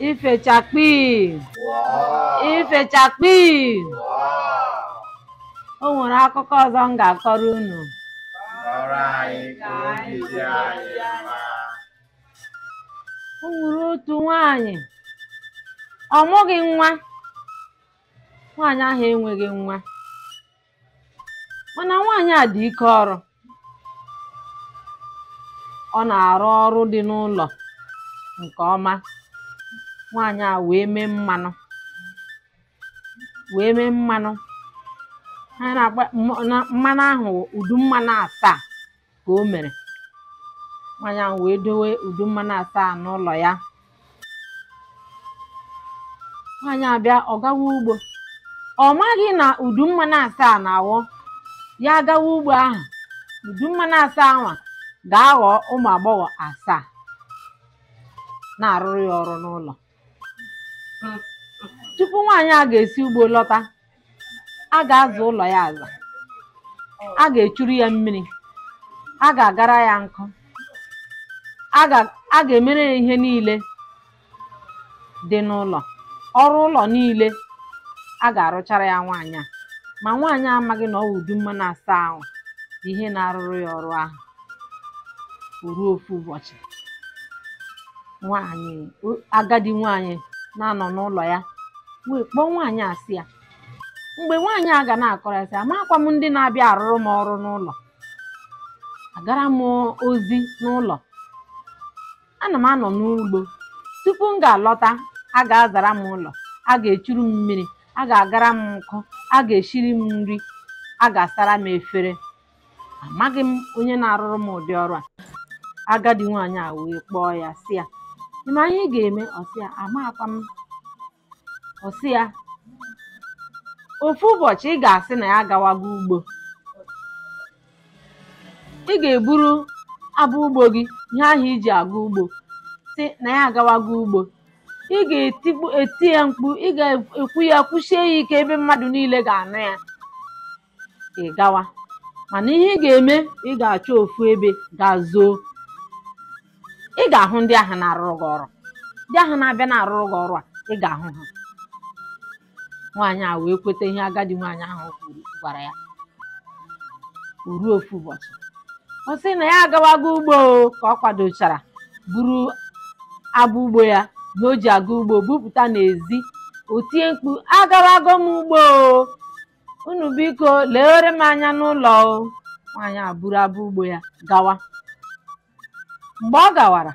ifechakpi ifechakpi o nwere akụkọ ọzọ m ga-akọrọ unu kọọrọ anyị ka obi dị anyị mma. o nwere otu nwaanyị ọ mụghị nwa nwaanyị ahụ enweghị nwa mana nwaanyị a dị ike ọrụ ọ na-arụ ọrụ dị n'ụlọ nke ọma nwaanyị a wee mee mmanụ wee mee mmanụ ha na-agba mma- na- mmanụ ahụ wụ udu mmanụ asaa ka o mere nwaanyị ahụ wee dowe udu mmanụ asaa n'ụlọ ya nwaanyị a bịa ọ gawa ugbo ọ maghị na udu mmanụ asaa na ọ wụ ya gawa ugbo ahụ udu mmanụ asaa ahụ ga-aghọ ụmụ agbọghọ asaa na-arụrụ ya ọrụ n'ụlọ tupu nwaanyị a ga-esi ugbo lọta a ga-aza ụlọ ya aza a ga-echuru ya mmiri a ga-agara ya nkụ a ga- a ga-emere ya ihe niile dị n'ụlọ ọrụ ụlọ niile a ga-arụchara ya nwaanyị a ma nwaanyị a amaghị na ọ wụ udu mmanụ asaa ahụ bụ ihe na-arụrụ ya ọrụ ahụ o ruo ofu ụbọchị nwaanyị o- agadi nwaanyị na-anọ n'ụlọ ya wee kpọọ nwaanyị a sị ya mgbe nwaanyị a ga na-akọrọ ya sị amakwa m ndị na-abịa arụrụ m ọrụ n'ụlọ agara m ozi n'ụlọ ana m anọ n'ugbo tupu m ga-alọta a ga-azara m ụlọ a ga-echuru m mmiri a ga-agara m nkụ a ga-eshiri m nri a ga-asara m efere amaghị m onye na-arụrụ m ụdị ọrụ a agadi nwaanyị a wee kpọọ ya sị ya ị ma ihe ị ga-eme ọ sị ya amakwa m ọ sị ya ofu ụbọchị ị ga-asị na ya agawago ugbo ị ga-eburu abọ ugbo gị ihe ahụ i ji aga ugbo sị na ya agawago ugbo ị ga-etikpu eti ya mkpu ị ga-ekwu ya kwushie ya ike ebe mmadụ niile ga-anụ ya ị gawa mana ihe ị ga-eme ị ga-achọ ofu ebe gaa zoo ị ga-ahụ ndị ahụ na-arụrụ gị ọrụ ndị ahụ na-abịa na-arụrụ gị ọrụ a ị ga-ahụ ha nwaanyị a wee kweta ihe agadi nwaanyị ahụ kwuru gwara ya o ruo ofu ụbọchị ọ sị na ya agawago ugbo o, ka ọ kwadochara buru abọ ugbo ya na o ji aga ugbo bupụta n'ezi o tie mkpu agawago m ugbo o. unu biko lewere m anya n'ụlọ o nwaanyị a buru abọ ugbo ya gawa mgbe ọ gawara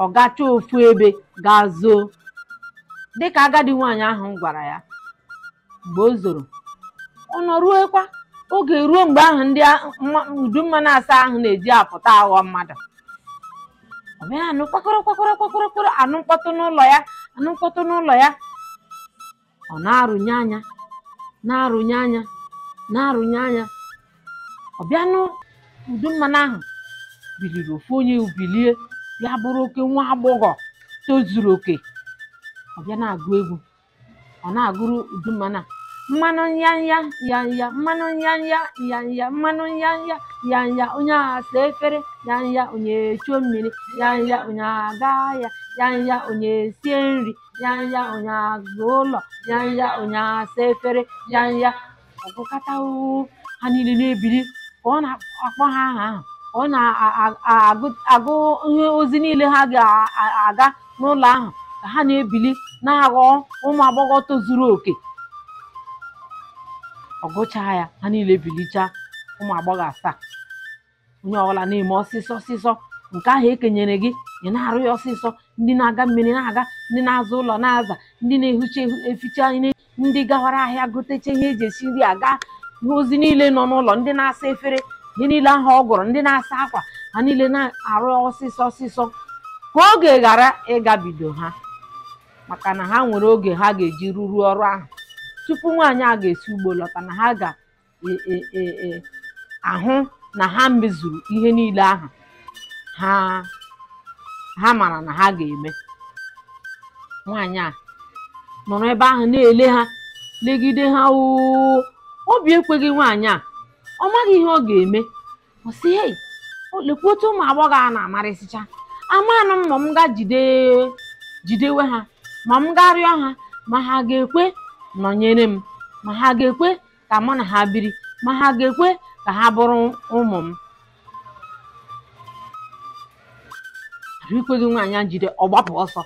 ọ gacha ofu ebe gaa zoo dịka agadi nwaanyị ahụ gwara ya mgbe o zoro ọ nọruokwa oge ruo mgbe ahụ ndị a- mma- udu mmanụ asa ahụ na-eji apụta aghọ mmadụ ọ bịa anụ kwakọrọ kwakọrọ kwakọrọ kwakọrọ anụ mkpọtụ n'ụlọ ya anụ mkpọtụ n'ụlọ ya ọ na-arụnye anya na-arụnye anya na-arụnye anya ọ bịa nụ udu mmanụ ahụ biliri ofu onye bilie ya bụrụ oke nwa agbọghọ tozuru oke ọ bịa na-agụ egwu ọ na-agụrụ udu mmanụ a mmanụ nyanya nyanya mmanụ nyanya nyanya mmanụ nyanya nyanya onye aga saa efere nyanya onye echuo mmiri nyanya onye aga ahịa nyanya onye sie nri yanya onye aza ụlọ yanya onye asa efere yanya ọ gụkata oo, ha niile na-ebili ka ọ na-akpọ ha aha ahụ ka ọ na-agụ agụ ihe ozi niile ha ga-aga n'ụlọ ahụ ka ha na-ebili na-aghọ ụmụ agbọghọ tozuru oke ọ gụchaa ya ha niile bilichaa ụmụ agbọghọ asaa onye ọbụla na-eme ọsịsọ ọsịsọ nke ahụ e kenyere gị ị na-arụ ya ọsịsọ ndị na-aga mmiri na-aga ndị na-aza ụlọ na-aza ndị na-ehicha ehi- eficha ihe ndị gawara ahịa gotecha ihe e ji esi nri aga ihe ozi niile nọ n'ụlọ ndị na-asa efere ihe niile ahụ ọ gụrụ ndị na-asa akwa ha niile na-arụ ya ọsịsọ ọsịsọ ka oge ghara ịgabido ha maka na ha nwere oge ha ga-eji rụruo ọrụ ahụ tupu nwaanyị a ga-esi ugbo lọta na ha ga e, e, e, e, ahụ na ha mezuru ihe niile ahụ ha ha mara na ha ga-eme nwaanyị a nọrọ ebe ahụ na-ele ha legide ha oo obi ekweghị nwaanyị a ọ maghị ihe ọ ga-eme ọ sị hei lekwa otu ụmụ agbọghọ a na-amarịsịcha amanụ m ma m ga jide jidewe ha ma m ga-arịọ ha ma ha ga-ekwe nọnyere m ma ha ga-ekwe ka mụ na ha biri ma ha ga-ekwe ka ha bụrụ ụmụ m arụ ekweghị nwaanyị a jide ọ gbapụ ọsọ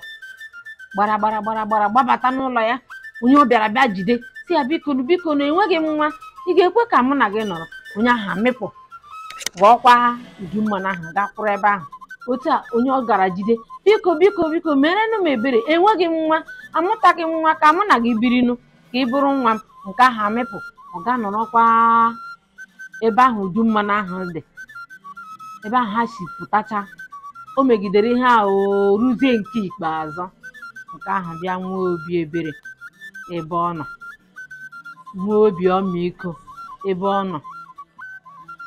gbara gbara gbara gbara gbabata n'ụlọ ya onye ọ bịara bịa jide sị ya bikonụ bikonụ enweghị m nwa ị ga-ekwe ka mụ na gị nọrọ onye ahụ amịpụ ghọọkwa udu mmanụ ahụ gaa kwụrụ ebe ahụ otu a onye ọ gara jide biko biko biko merenụ m ebere enweghị m nwa amụtaghị m nwa ka mụ na gị birinụ ka ị bụrụ nwa m nke ahụ amịpụ ọ ga-anọrọkwa ebe ahụ udu mmanụ ahụ dị ebe ahụ ha si pụtacha o megidere ihe a o ruzie nke ikpeazụ nke ahụ bịa nwee obi ebere ebe ọ nọ nwee obi ọmịiko ebe ọ nọ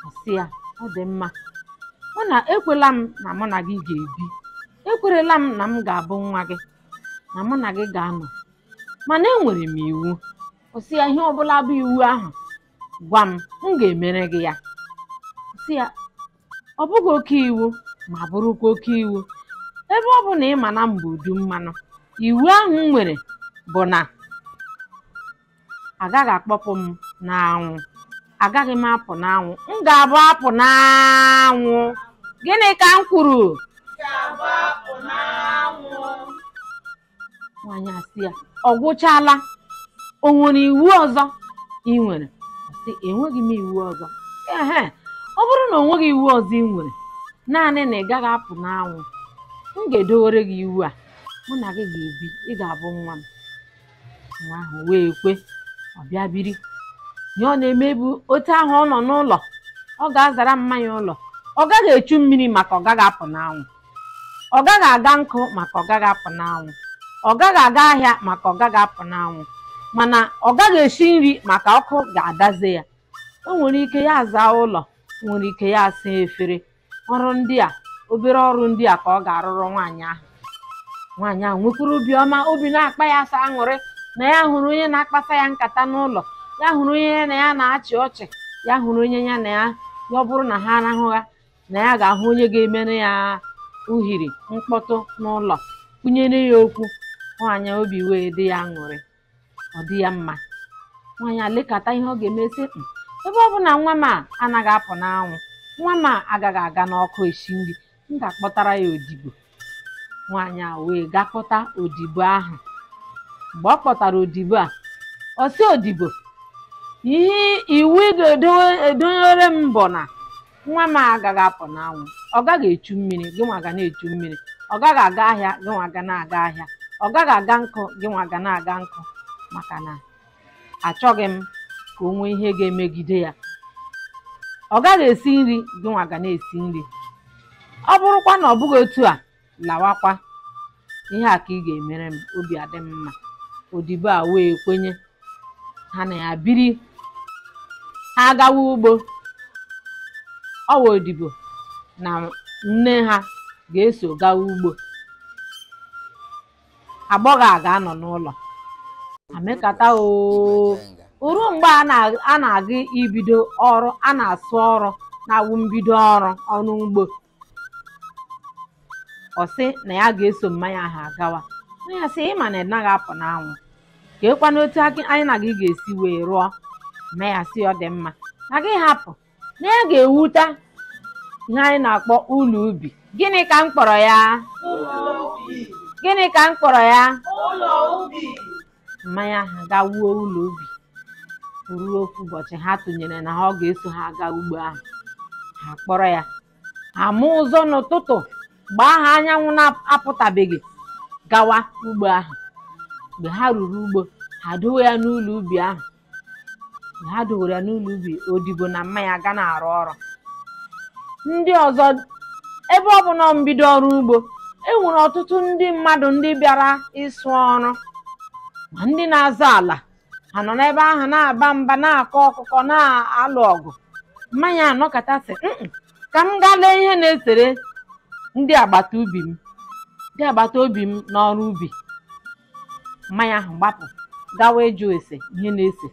ọ sị ya ọ dị mma mụ na ekwela m na mụ na gị ga-ebi ekwerela m na m ga-abụ nwa gị na mụ na gị ga-anọ mana enwere m iwu ọ sị ya ihe ọbụla bụ iwu ahụ gwa m m ga-emere gị ya ọ sị ya ọ bụghị oke iwu ma bụrụkwa oke iwu ebe ọ bụ na ị ma na m bụ udu mmanụ iwu ahụ m nwere bụ na agaghị akpọpụ m n'anwụ agaghị m apụ n'anwụ m ga-abụ apụ n'anwụ gịnị ka m kwuru nwaanyị a sị ya ọ gwụchala o nwere iwu ọzọ ị nwere Ọ sị enweghị m iwu ọzọ ehe ọ bụrụ na o nweghị iwu ọzọ ị nwere naanị na ị gaghị apụ n'anwụ m ga-edowere gị iwu a mụ na gị ga-ebi ị ga-abụ nwa m nwa ahụ wee kwe ọ bịa biri ihe ọ na-eme bụ otu ahụ ọ nọ n'ụlọ ọ ga-azara mma ya ụlọ ọ gaghị echu mmiri maka ọ gaghị apụ n'anwụ ọ gaghị aga nkụ maka ọ gaghị apụ n'anwụ ọ gaghị aga ahịa maka ọ gaghị apụ n'anwụ mana ọ gaghị esi nri maka ọkụ ga-adaze ya o nwere ike ya azaa ụlọ nwere ike ya asaa efere ọrụ ndị a obere ọrụ ndị a ka ọ ga-arụrụ nwaanyị ahụ nwaanyị ahụ nwekwuru obiọma obi na-akpa ya sọ aṅụrị na ya hụrụ onye na-akpasa ya nkata n'ụlọ ya hụrụ onye ya na ya na-achị ọchị ya hụrụ onye ya na ya ya ọ bụrụ na ha arahụgha na ya ga-ahụ onye ga-emere ya uhiri mkpọtụ n'ụlọ kwunyere ya okwu nwaanyị a obi wee dị ya aṅụrị ọ dị ya mma nwaanyị a lekata ihe ọ ga-eme sị mm ebe ọ bụ na nwa m a anaghị apụ n'anwụ nwa m a agaghị aga n'ọkụ esi nri m ga-akpọtara ya odibo nwaanyị a wee gaa kpọta odibo ahụ mgbe ọ kpọtara odibo a ọ sị odibo ihe iwu ị ga-edowere m bụ na nwa m a agaghị apụ n'anwụ ọ gaghị echu mmiri gị nwa ga na-echu mmiri ọ gaghị aga ahịa gị nwa ga na-aga ahịa ọ gaghị aga nkụ gị nwa ga na-aga nkụ maka na achọghị m ka o nwee ihe ga-emegide ya ọ gaghị esi nri gị nwa ga na-esi nri ọ bụrụkwa na ọ bụghị otu a lawakwa ihe a ka ị ga-emere m obi adị m mma odibo a wee kwenye ha na ya biri ha gawa ugbo nwa odibo na nne ha ga-eso gawa ugbo agbọghọ a ga-anọ n'ụlọ amekata o ruru mgbe a na- a na-aga ibido ọrụ a na-asụ ọrụ na-awụ mbido ọrụ ọrụ ugbo ọ sị na ya ga-eso mma ya ahụ agawa mma ya sị ị ma na ị naghị apụ n'anwụ kee kwanụ otu akị- anyị na gị ga-esi wee rụọ mma ya sị ọ dị mma na gị hapụ na ya ga-ewuta ihe anyị na-akpọ ụlọ ubi gịnị ka m kpọrọ ya gịnị ka m kpọrọ ya mma ya ahụ ga wuo ụlọ ubi ruo ofu ụbọchị ha tụnyere na ha ọ ga-eso ha aga ugbo ahụ ha kpọrọ ya ama ụzọ n'ụtụtụ mgbe ahụ anyanwụ na-apụtabeghị gawa ugbo ahụ mgbe ha ruru ugbo ha dowe ya n'ụlọ ubi ahụ na ha dowere ya n'ụlọ ubi odibo na mma ya ga na-arụ ọrụ ndị ọzọ ebe ọ bụ na mbido ọrụ ugbo e nwere ọtụtụ ndị mmadụ ndị bịara ịsụ ọrụ ma ndị na-azọ ala ha nọ n'ebe ahụ na-aba mba na-akọ ọkụkọ na-alụ ọgụ mma ya anọkata sị mm-mm ka m gaa lee ihe na-esere ndị agbata ubi m ndị agbata obi m n'ọrụ ubi mma ya ahụ gbapụ gawa ịjụ ese ihe na-ese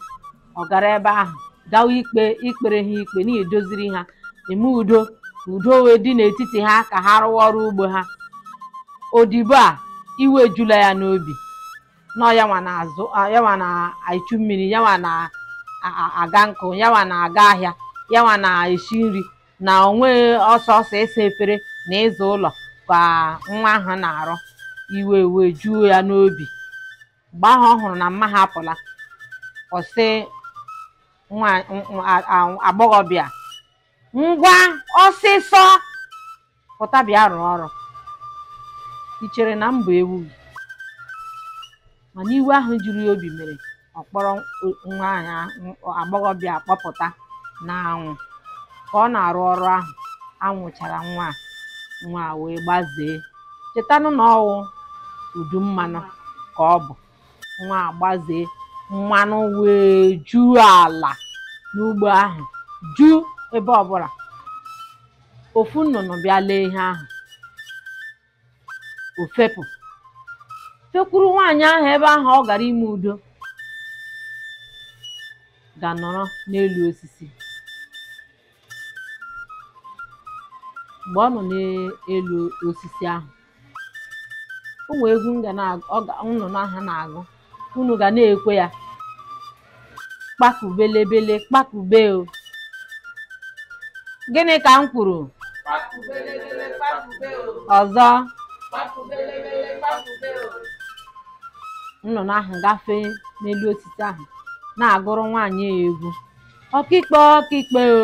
ọ gara ebe ahụ gawa ikpe ikpere ha ikpe na idoziri ha eme udo ka udo wee dị n'etiti ha ka ha rụwa ọrụ ugbo ha odibo a iwe ejula ya n'obi na ọ yanwa na-azụ a- yanwa na-echu mmiri yanwa na-aga nkụ yanwa na-aga ahịa yanwa na-esi nri na o nwe ọ sọsọ ịsa efere na ịza ụlọ ka nwa ahụ na-arụ iwe wee juo ya n'obi mgbe ahụ ọ hụrụ na mma ha apụla ọ sị nwa- nwa- a- a- agbọghọbịa ngwa ọsịsọ pụta bịa rụọ ọrụ i chere na m bụ ewu gị mana iwe ahụ juru ya obi mere ọ kpọrọ nwa ahụ a- agbọghọbịa kpọpụta n'anwụ ka ọ na-arụ ọrụ ahụ anwụ chara nwa a nwa a wee gbazee chetanụ na ọ wụ udu mmanụ ka ọ bụ nwa a gbazee mmanụ wee juo ala n'ugbo ahụ ju ebe ọbụla ofu nnụnụ bịa lee ihe ahụ o fepụ fekwuru nwaanyị ahụ ebe ahụ ọ gara ime udo ga nọrọ n'elu osisi mgbe ọ nọ n'elu osisi ahụ o nwee egwu nnụnụ ahụ na-agụ unu ga na-ekwe ya kpakubelebele kpakube o gịnị ka m kwuru Kpakubelebele kpakube o. ọzọ Kpakubelebele kpakube o. nnụnụ ahụ gafee n'elu osisi ahụ na-agụrụ nwaanyị ya egwu ọkịkpe ọkịkpe o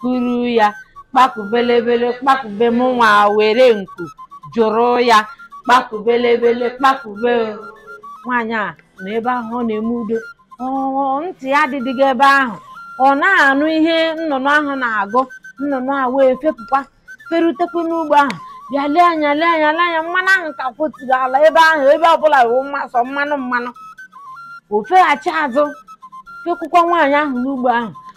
kuru ya kpakubelebele kpakube m nwa were nku jụrụ ya kpakubelebele kpakube nwaanyị a nọ ebe ahụ ọ na-eme udo ntị ya adịdịghị ebe ahụ ọ na-anụ ihe nnụnụ ahụ na-agụ nnụnụ a wee fepụkwa ferutekwa n'ugbo ahụ bịa lee anya lee anya lee anya mmanụ ahụ ka kwoturu ala ebe ahụ ebe ọbụla wụ sọ mmanụ mmanụ o feghachi azụ fekwukwa nwaanyị ahụ n'ugbo ahụ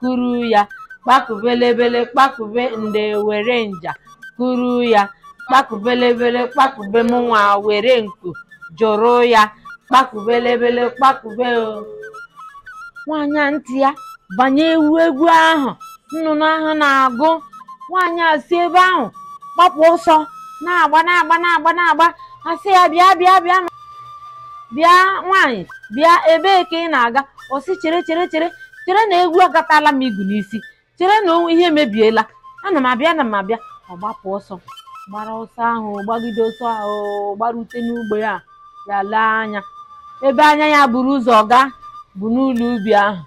kuru ya kpakubelebele kpakube nde were nja kuru ya kpakubelebele kpakube m nwa were nku jụrụ ya kpakubelebele kpakube o nwaanyị a ntị ya banye ewu egwu ahụ nnụnụ ahụ na-agụ nwaanyị a si ebe ahụ gbapụ ọsọ na-agba na-agba na-agba na-agba a sị ya bịa bịa bịa bịa nwaanyị bịa ebee ka ị na-aga ọ sị chere chere chere chere na egwu agatala m igu n'isi chere na ihe emebiela ana m abịa ana m abịa ọ gbapụ ọsọ gbara ọsọ ahụ gbagide ọsọ ahụ gbarute n'ugbo ya ya lee anya ebe anya ya buru ụzọ gaa bụ n'ụlọ ubi ahụ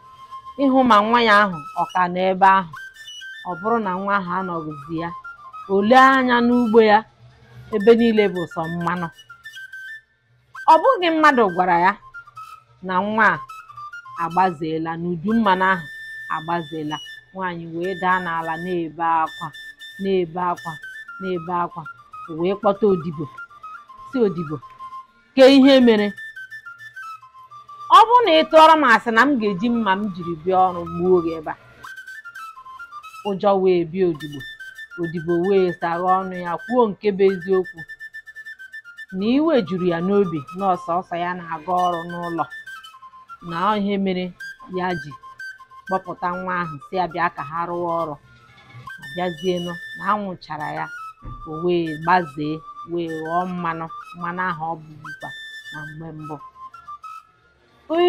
ịhụ ma nwa ya ahụ ọ ka nọ ebe ahụ ọ bụrụ na nwa ahụ anọghịzi ya o lee anya n'ugbo ya ebe niile bụ sọ mmanụ ọ bụghị mmadụ gwara ya na nwa a agbazeela n'udu mmanụ ahụ agbazeela nwaanyị wee daa n'ala na-ebe akwa na-ebe akwa na-ebe akwa o wee kpọta odibo sị odibo ke ihe mere ọ bụrụ na ị tụọrọ m asị na m ga-eji mma m jiri bịa ọrụ gbuo gị ebe a ụjọ wee bịa odibo odibo wee saghe ọnụ ya kwuo nke bụ eziokwu na iwe juru ya n'obi na ọ sọsọ ya na-aga ọrụ n'ụlọ na ọ ihe mere ya ji kpọpụta nwa ahụ sị ya bịa ka ha rụwa ọrụ a bịazienụ na anwụ chara ya o wee gbazee wee ghọọ mmanụ mmanụ ahụ ọ bụbukwa na mgbe mbụ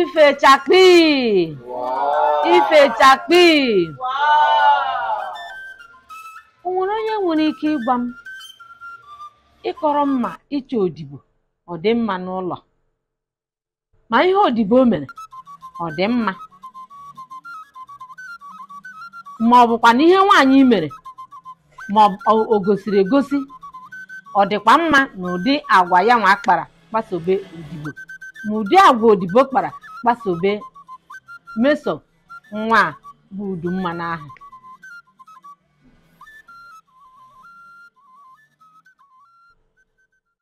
ife chakpi ife chakpi o nwere onye nwere ike ịgwa m ịkọrọ m ma ịchọ odibo ọ dị mma n'ụlọ ma ihe odibo mere ọ dị mma ma ọ bụkwanụ ihe nwaanyị mere ma ọ bụ- o gosiri egosi ọ dịkwa mma na ụdị agwa ya nwa kpara kpasobe odibo ma ụdị agwa odibo kpara kpasobe meso nwa bụ udu mmanụ ahụ